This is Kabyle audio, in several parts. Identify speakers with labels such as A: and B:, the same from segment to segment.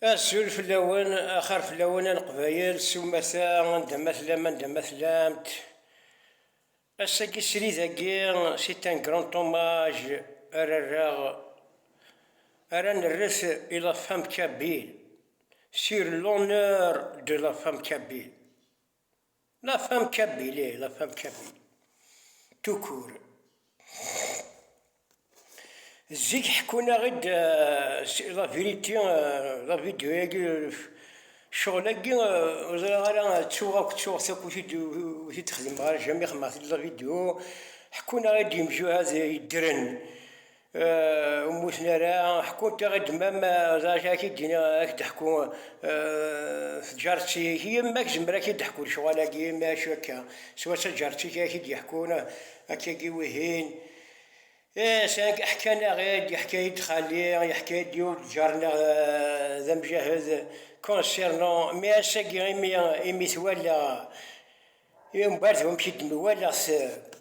A: Azul fell-awen, axir fell-awen a Leqbayel, s umata, anda ma tellam, anda ma tellamt. Ass-agi srid-agi, c'est un grand hommage ara rreɣ, ara nerret i la femme kabyle, sur l'honneur de la femme kabyle. La femme kabyle ih la femme kabyle tout court zik ḥkun-aɣ-id la vérité la vidéo agi ccɣel agi ur ẓriɣ ara ttuɣ akk ttuɣ akk ur t-id-xedmeɣ ara jamais xedmeɣ-t-id la vidéo ḥkun-aɣ-id yemjuhad yeddren ur mmuten ara, ḥkun-t i ɣ-id-mam, d acu ara k-id-din, ad k-d-ḥku tǧaret-ik, yemma tzemmer ad k-id-teḥku lecɣal-agi, ma acu akka, swat taǧaret-ik ara k-id-yeḥkun akka-agi wihin, ih, ḥkan-aɣ-id, yeḥka-yi-d xali, yeḥka-yi-d yiwen lǧar-nneɣ d amjahed, concernant, mais ass-agi imi, imi twalaɣ, I umbeɛd wamek i d-nwala s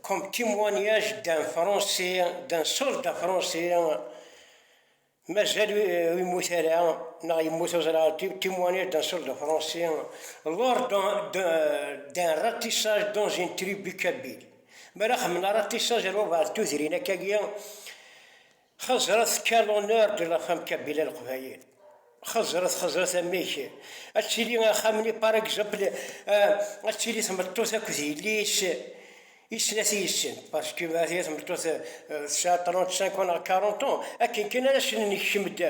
A: comme témoignage d'un français, d'un soldat français, mazal ur yemmut ara, neɣ yemmut ur ẓriɣ ara, témoignage d'un soldat français lors d'un ratissage dans une tribu kabyle. Mi ara xemmen aratissage ar wabɛed tudrin akka-agi. Xeẓret quel honneur de la femme kabila leqbayel xeẓret xeẓret amek ad tili axxam-nni par exemple ad tili tmeṭṭut akked yelli-s i snat yid-sen parce que ma tili tmeṭṭut tesɛa 35 ans neɣ 40 ans akken kan ara sen-nekcem-d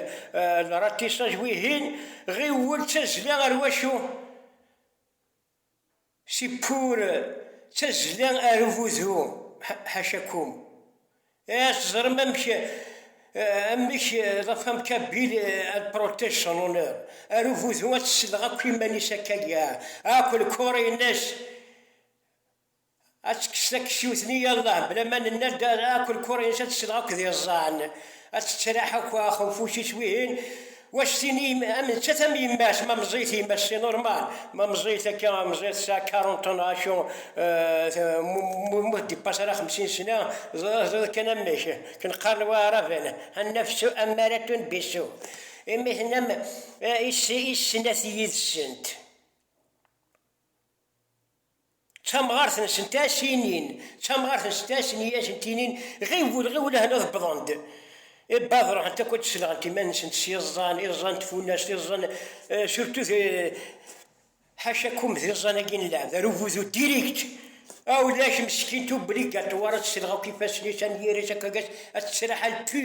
A: le ratissage wihin ɣiwel d tazzla ar wacu Sippur d tazzla ar ugudu, ḥaca kum. Ih, ad teẓrem amek amek la femme kabyle elle protège son honneur, ar ugudu ad tesleɣ akk iman-is akka, ah, akk lkor-ines Ad tekkes takessiwt-nni yallah bla ma nenna-d akk lkurin-is ad tesleɣ akk d iẓẓan, ad tettraḥ akk axenfuc-is wihin, u ad s-tini am nettat am yemma-s, ma meẓẓiyet yemma-s c'est normal, ma meẓẓiyet akka meẓẓiyet tesɛa quarante ans acu mu d-ipaṣ ara xemsin sena tezdeḍ kan amek ken qqaren waɛraben annafsu ammaratun bisu imi tennam i snat yid-sent. d tamɣart n Sentacinin, d tamɣart n Sentasin i asent-inin, ɣiwel, ɣiwel ahna ad wwḍen-d. E bab, ruḥent akk ad d-selɣent iman-nsent s iẓẓan, iẓẓan n tfunast, iẓẓan, surtout d, ḥaca kum, d iẓẓan-agi n lɛeb, ar ugudu direct! A ulac, meskint, obligatoire ad selɣ akk ifassen-is, anyir-is akk, ad tettraḥal, pu!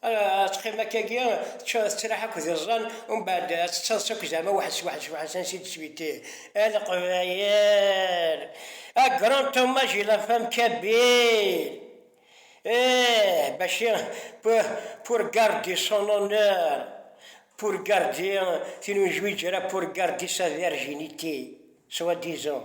A: Ad teqqim akkagi, teččur tettraḥ akk d iẓẓan, umbeɛd ad tettaḍsa akk zeɛma weḥd s weḥd s weḥd s ansi d-tesbiti a leqbayel! A grand hommage et la femme kabyle! Eh! Bacci pour garder son honneur, pour garder tin ur yezwiǧ ara, pour garder sa virginité, soit disant.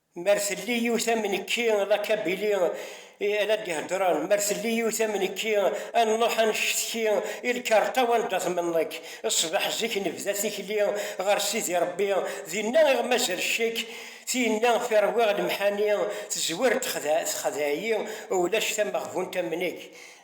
A: Mer telli yiwet am nekki, la kabili i ara d-iheddren, mer telli yiwet am nekki, a nruḥ a necetki i lkarṭa wanda tmenḍek. Ṣṣbeḥ zik nebda tikli ɣer Sidi Rebbi, dinna iɣ mazal ccek, tinna fi rwiɣ lemḥani, tezwir texdeɛ-iyi, ulac tameɣbunt am nekk.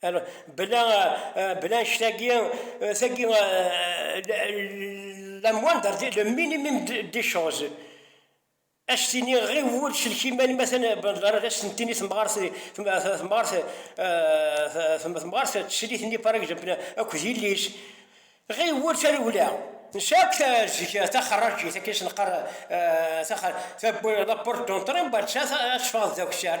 A: Bla annect-agi, tagi la moindre le minimum des choses ad s-tini ɣi wul sellek iman-im atan ar ad s-tini temɣart teslit-nni par exemple akk d yelli-s ɣi wul tarewla nesɛa akk zik taxerrajit akken i s-neqqar la porte d'entrée, ad teffeɣ d akessar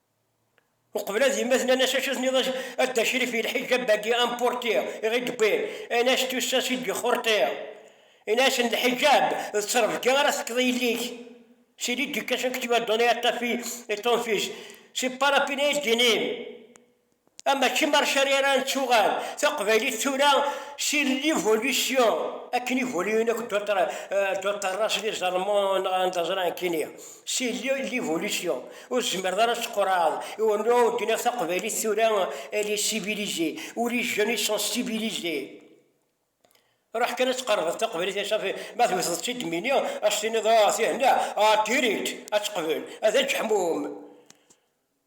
A: Uqbel ad yemmet nnan as acu tenniḍ a dda crif i lḥijab agi amporti i ɣi d-wwin, in as tussas i d-ixurti in asen lḥijab d ttrebga ara tekkeḍ i yelli-k c'est l'éducation que tu as donné à ta fille et ton fils c'est pas la peine ay d-inin. Ama Kim Archaryaran tuɣal taqbaylit tura si l'évolution akken ivoluyen akk Doctor Russell iẓermu neɣ anda ẓran kini si l'évolution ur tzemreḍ ara ad tqurɛeḍ i ur nuɣ ur d-naf taqbaylit tura elle est civilisée ou les jeunes ils sont civilisés ruḥ kan ad tqerbeḍ taqbaylit ad safi ma tewteḍ-tt-id mini ad s-tiniḍ ah tihenna ah direct ad teqbel ad aǧeḥmum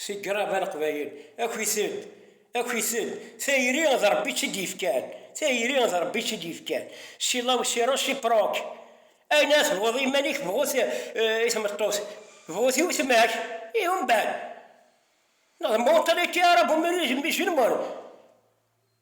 A: Si grab a leqbayel, aki-t-ed, aki-t-ed, tayri d Rebbi i tt-id-yefkan, tayri d Rebbi i tt-id-yefkan, si la usi reciproc, ayen ara tebɣuḍ i yiman-ik bɣu-t i tmeṭṭut, bɣu-t i wetma-k, ihi umbeɛd, neɣ d mentalité arabu-musulmane.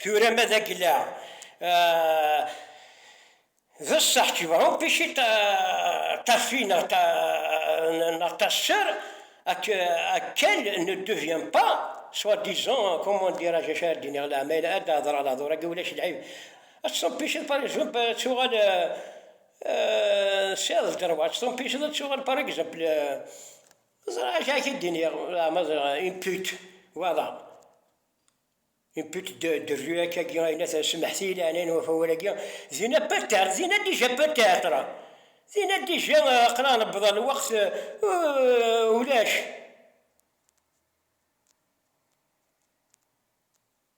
A: Tura ma d aglaɛ, d ṣṣeḥ kebɛupic i tafi neɣ tasser, akal ne devient pas soit disant comment dirais-je acu ara d-iniɣ leɛma ad d-tehder ɣer lehdur-agi ulac lɛib ad teṭṭupiceḍ par exemple ad tuɣal s iḍ d rrwa ad teṭṭupiceḍ ad tuɣal par exemple Ẓriɣ acu ak d-iniɣ, leɛmer une pute, voilà, une pute de, de rue akka-agi ay la tsemmeḥti i leɛnaya n wafawal-agi, dinna peut-être, dinna déjà peut-être, dinna déjà aql-aɣ newweḍ ɣer lweqt ulac.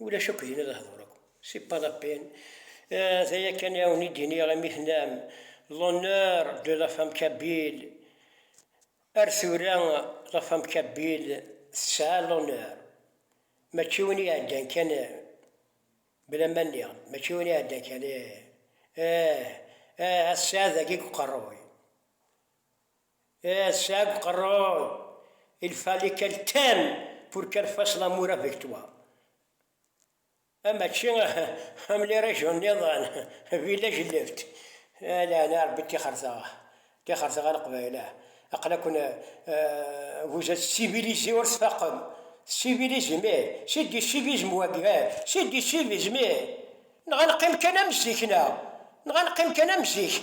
A: Ulac akk dinna lehdur akk. C'est pas la peine. D aya kan i awen-id-iniɣ imi tennam l'honneur de la femme kabyle. Ar tura la femme kabyle tesɛa l'honneur. Mačči win i iɛeddan kan bla ma nniɣ-d, mačči win i iɛeddan kan, ih, ih, ih, a tesɛiḍ dagi deg uqerruy. Eh, Seb Qerrod, il fallait quel thème pour qu'elle fasse l'amour avec toi. Ah, mačči am lirajun niḍen, village left. Ala, ana rebbi tixerteɣ, tixerteɣ a Leqbayel. Aqla-ken euh, vous êtes civilisés ur tfaqem. Civilisme, c'est du civisme wagi, c'est du civisme. Nɣa neqqim kan am zik-neɣ, nɣa neqqim kan am zik.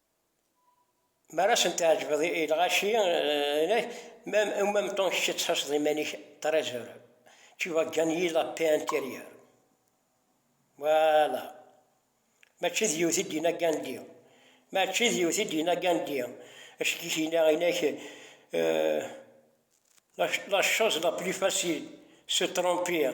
A: Mi ara asen-tɛejbeḍ i lɣaci, en même temps kečč ad tḥusseḍ iman-ik très heureux, tu vas gagner la paix intérieure. Voilà. Mačči d yiwet i d-yenna Gandhi. Mačči d yiwet i d-yenna Gandhi. Acu i k-yenna? Yenna-ak la chose la plus facile, se tromper.